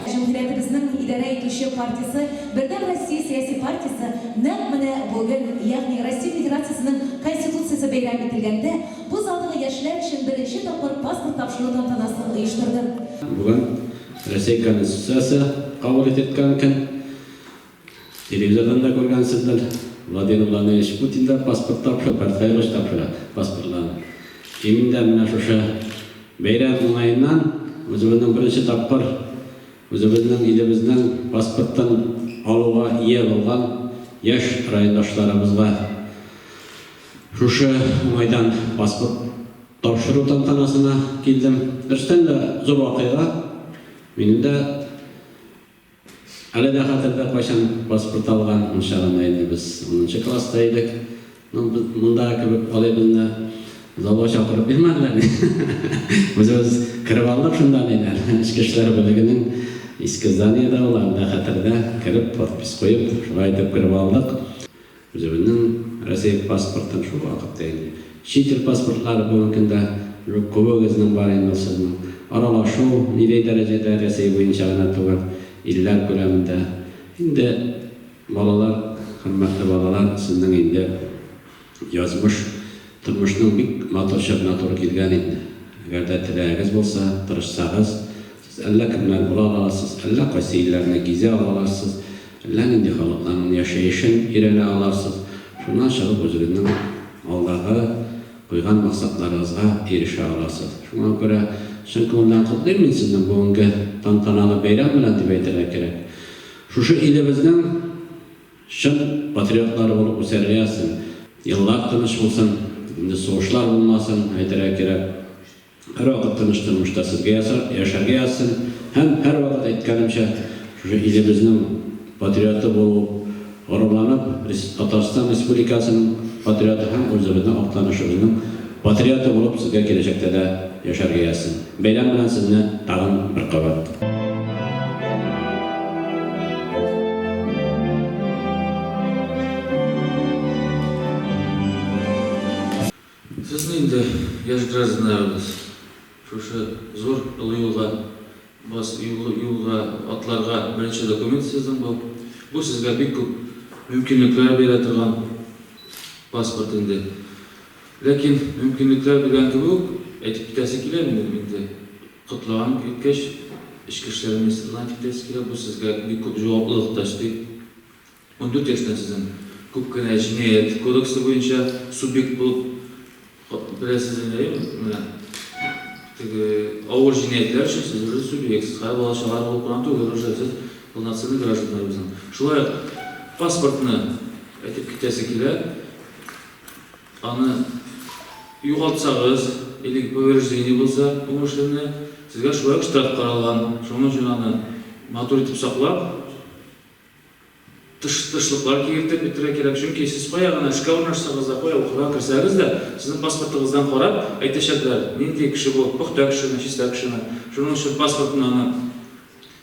Җәмгыятебезнең идарә итүче партиясе, Бердәм Россия сәяси партиясе нәкъ менә бүген, ягъни Россия Федерациясенең Конституциясе бәйрәм ителгәндә, бу залдагы яшьләр өчен беренче тапкыр паспорт тапшыру тантанасын оештырды. Бүген Россия Конституциясе кабул ителгән көн. Телевизордан да күргәнсездер, Владимир Владимирович Путин да паспорт тапшырып, Карцаевич тапшыра паспортларны. И мин дә менә шушы бәйрәм уңаеннан үзебезнең беренче тапкыр үзебезнең илебезнең паспортын алуга ия булган яшь райондашларыбызга шушы уңайдан паспорт тапшыру тантанасына килдем. Берстән дә зур вакыйга, минем дә Әле дә хәтердә, кайчан паспорт алган, унча гына инде без унынчы класста идек. Ну, монда кебек алай безне залга чакырып бирмәделәр. Үзебез кереп алдык шунда ниләр. Эчке эшләр бүлегенең иске зданиеда ул, әле дә хәтердә, кереп, подпись куеп, шулай итеп кереп алдык. Үзебезнең Россия паспортын шул вакытта инде. Чит ил паспортлары бүгенге көндә уже күбегезнең бар инде ул сезнең. Аралашу нидәй дәрәҗәдә Рәсәй буенча гына түгел, илләр күләмендә. Инде балалар, хөрмәтле балалар, сезнең инде язмыш тормышның бик матур чорына туры килгән инде. Әгәр дә теләгегез булса, тырышсагыз, Сез әллә кемнәр була аласыз, әллә кайсы илләрне гизә аласыз, әллә нинди халыкларның яшәешен өйрәнә аласыз, шуннан чыгып үзегезнең алдагы куйган максатларыгызга ирешә аласыз. Шуңа күрә чын күңелдән котлыйм мин сезне бүгенге тантаналы бәйрәм белән дип әйтергә кирәк. Шушы илебезнең чын патриотлары булып үсәргә сезнең. Еллар тыныч булсын, инде сугышлар булмасын, әйтергә кирәк. Һәрвакыт тыныч тормышта сезгә ясап, яшәргә язсын һәм, һәрвакыт әйткәнемчә, шушы илебезнең патриоты булу, горурланып, Татарстан Республикасының патриоты һәм үзебезнең Актанышыбызның патриоты булып сезгә киләчәктә дә яшәргә язсын. Бәйрәм белән сезне тагын бер кабат! Сез нинди яшь гражданнарыбыз? Шушы зур олы юлга бас, юл, юлга атларга беренче документ сезнең бу. Бу сезгә бик күп мөмкинлекләр бирә торган паспорт инде. Ләкин мөмкинлекләр белән кебек үк әйтеп китәсе килә минем инде. Котлаган иткәч, Эчке эшләр министрлыгына әйтеп китәсе килә, бу сезгә бик күп җаваплылык та өсти. Ундүрт яшьтән сезнең күп кенә җинаять кодексы буенча субъект булып беләсезме, әйеме? Менә теге авыр җинаятьләр өчен сез уже субъектсыз, хәзер бала чагар булып кына түгел, уже сез полноценный гражданнарыбызның. Шулай ук паспортны әйтеп китәсе килә, аны югалтсагыз, или повреждение булса умышленное, сезгә шулай ук штраф каралган, шуның өчен аны матур итеп саклап, Тыш-тышлыклар киертеп бетерә кирәк, чөнки сез кая гына эшкә урнашсагыз да, кая укырга керсәгез дә, сезнең паспортыгыздан карап, әйтәчәкләр, нинди кеше бу, пөхтә кешеме, чиста кешеме. Шуның өчен паспортны аны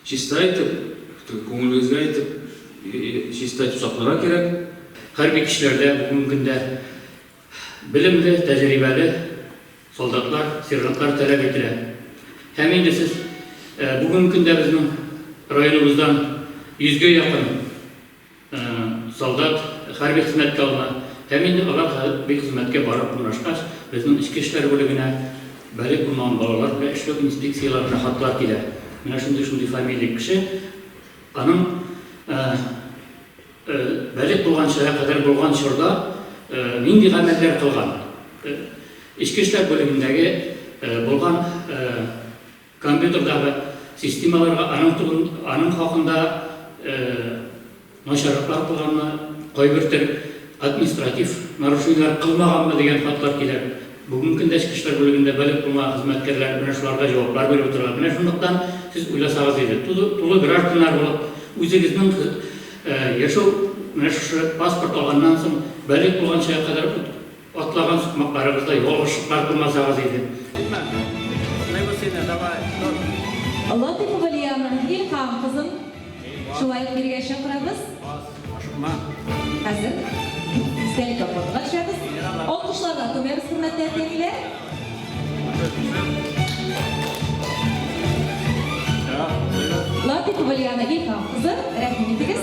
чиста итеп, теге күңелегезгә итеп, чиста итеп сакларга кирәк. Хәрби кешеләрдә бүгенге көндә Белемле, тәҗрибәле солдатлар, сержантлар таләп ителә. Һәм инде сез бүгенге көндә безнең районыбыздан йөзгә якын солдат хәрби хезмәткә алына. Һәм инде алар хәрби хезмәткә барып урнашкач, безнең эчке эшләр бүлегенә балигъ булмаган балалар белән эшләү инспекцияләренә хатлар килә. Менә шундый-шундый фамилия кеше, аның, Бәлигъ булган чорга кадәр булган чорда нинди гамәлләр кылган? Эчке эшләр бүлегендәге булган компьютердагы системаларга аның хакында начарлыклар кылганмы, кайбертөр административ нарушениеләр кылмаганмы дигән хатлар килә. Бүгенге көндә эчке эшләр бүлегендә бәлек тумагы хезмәткәрләре менә шуларга җаваплар биреп утыралар. Менә шунлыктан сез уйласагыз иде, тулы гражданнар булып, үзегезнең яшәү, менә шушы паспорт алганнан соң, бәлек булган чакка кадәр атлаган сукмакларыгызда ялгышлыклар тумасагыз иде. Әйтмә, котлыйбыз сине, давай, тор. Латыйпова Лиана, илһам кызын. Шулай ук бирегә чакырабыз. Ашыкма. Хәзер истәлек аппартка төшәбез. Алкышларга күмәбез, хөрмәтле әти-әниләр. Латыйпова Лиана Илһам кызы, рәхим итегез.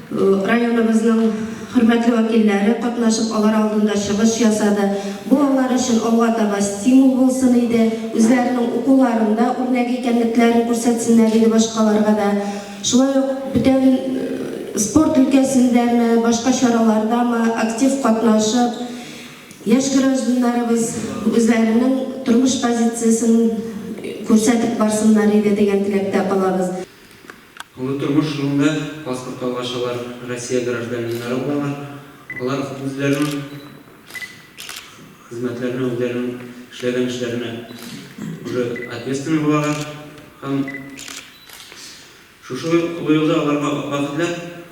Районыбызның хөрмәтле вәкилләре катнашып, алар алдында чыгыш ясады. Бу алар өчен алга таба стимул булсын иде, үзләренең укуларында үрнәк икәнлекләрен күрсәтсеннәр иде башкаларга да. Шулай ук бүтән спорт өлкәсендәме, башка чаралардамы актив катнашып, яшь гражданнарыбыз үзләренең тормыш позициясен күрсәтеп барсыннар иде дигән теләктә калабыз. Олы тормыш юлында паспорт алгач алар Россия гражданиннары булалар. Алар үзләренең хезмәтләренә, үзләренең эшләгән эшләренә уже ответственный булалар һәм шушы олы юлда аларга бәхетләр.